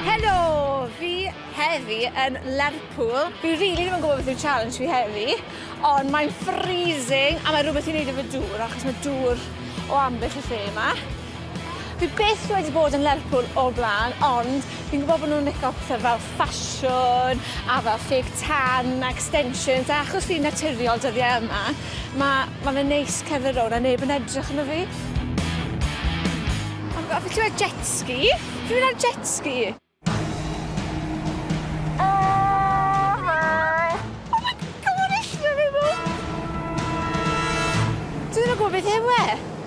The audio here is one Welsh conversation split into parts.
Helo! Fi heddi yn Lerpwl. Fi rili ddim yn gwybod beth yw challenge fi heddi, ond mae'n freezing a mae rhywbeth i wneud efo dŵr, achos mae dŵr o ambell y lle yma. Fi byth wedi bod yn Lerpwl o'r blaen, ond Fi'n gwybod bod nhw'n licio pethau fel ffasiwn a fel ffug tan a extensions a achos fi'n naturiol dyddiau yma, mae, mae fe'n neis cerdded rownd a neb yn edrych arno fi. Ond fi wedi gweld jet ski. Fi'n mynd ar jet ski. Dwi ddim yn gwybod beth yw e.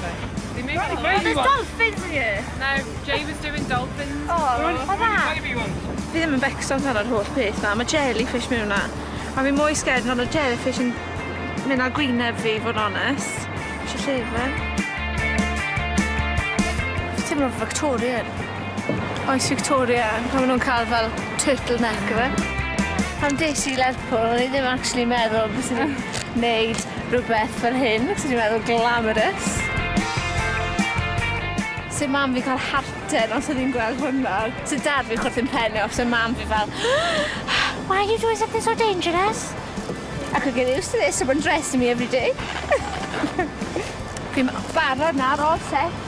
Sorry. Ddim yn gwybod. Oh, there's dolphins here! No, Jay was doing dolphins. O, pa dda! Fi ddim yn becso amdano yr holl peth na, mae jellyfish mewn na. A fi mwy scared amdano jellyfish yn mynd â gwyneb fi, fod yn onest. Eisiau llefen. Ti'n mynd Victorian. Oes Victoria pan ma' nw'n ca'l fel turtle neck yfe? Pan des i i Lerpwl o'n i ddim actually meddwl byswn i'n neud rwbeth fel hyn achos o'n i'n meddwl glamorous. Se mam fi ca'l hearten os odd 'i'n gweld hwnna. Se dad fi chwerthin pen e os odd mam fi fel Why are you doing something so dangerous? I could get used to this, someone dressing me everyday. Fi'n barod nawr, all set.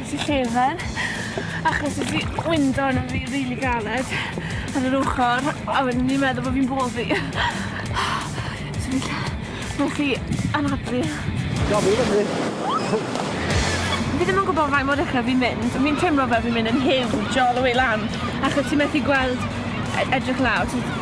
Nes i llefen achos nes i wyndo arno fi rili galed ar yr ochor a wedyn o'n i'n meddwl bo' fi'n boddi. So fi jys nes i anadlu. Gad fi i fyny. Fi ddim yn gwbo faint mor uchel fi'n mynd ond fi'n teimlo fel fi'n mynd yn hiwj all the way lan achos ti methu gweld e- edrych lawr ti jys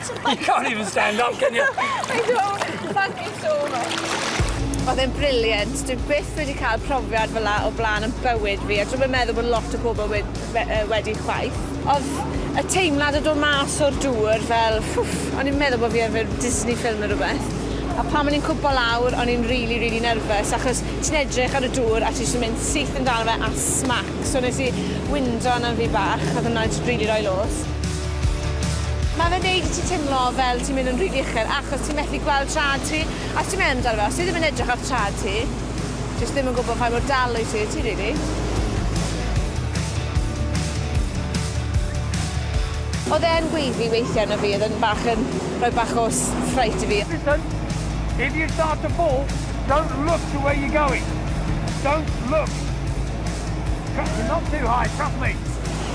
You can't even stand up, can you? I know, thank you so much. Oedd e'n brilliant, dwi byth wedi cael profiad fel la o blaen yn bywyd fi, a dwi'n yn meddwl bod lot o pobl wedi chwaith. Oedd y teimlad o dod mas o'r dŵr fel, ffwff, o'n i'n meddwl bod fi ar fel Disney film neu rhywbeth. A pan o'n i'n cwmpo lawr, o'n i'n rili, rili nerfus, achos ti'n edrych ar y dŵr a ti jyst yn mynd syth amdano fe a smac. So nes i winddo arnaf fi bach, oedd hwnna jyst rili roi lôs. Mae fe'n neud i ti timlo fel ti'n mynd yn rili uchel achos ti'n methu gweld traed ti. A os ti'n mynd amdano fe, os ti ddim yn edrych ar traed ti, jyst ddim yn gwybod faint mor dal wyt ti, ti rili. Oedd e yn gweiddi weithiau arno fi, oedd e'n bach yn rhoi bach o s- fright i fi. Listen, if you start to fall, don't look to where you're going. Don't look. Trust me, not too high, trust me.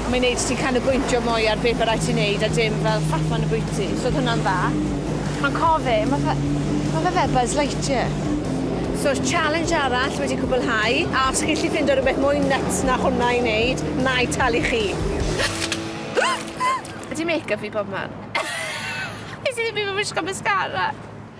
A mae'n neud ti canolbwyntio mwy ar be' by rai' ti neud a dim fel ffafan y bwyty, so odd hwnna'n dda. Ond cof fi, ma' fe ma' fe fel Buzz Lightyear. So'r challenge arall wedi cwbwlhau, a os chi'n 'llu ffindo rwbeth mwy nyts na hwnna i neud, na'i talu chi. Ydi makeup fi bobman? Nes i ddim even wisgo mascara.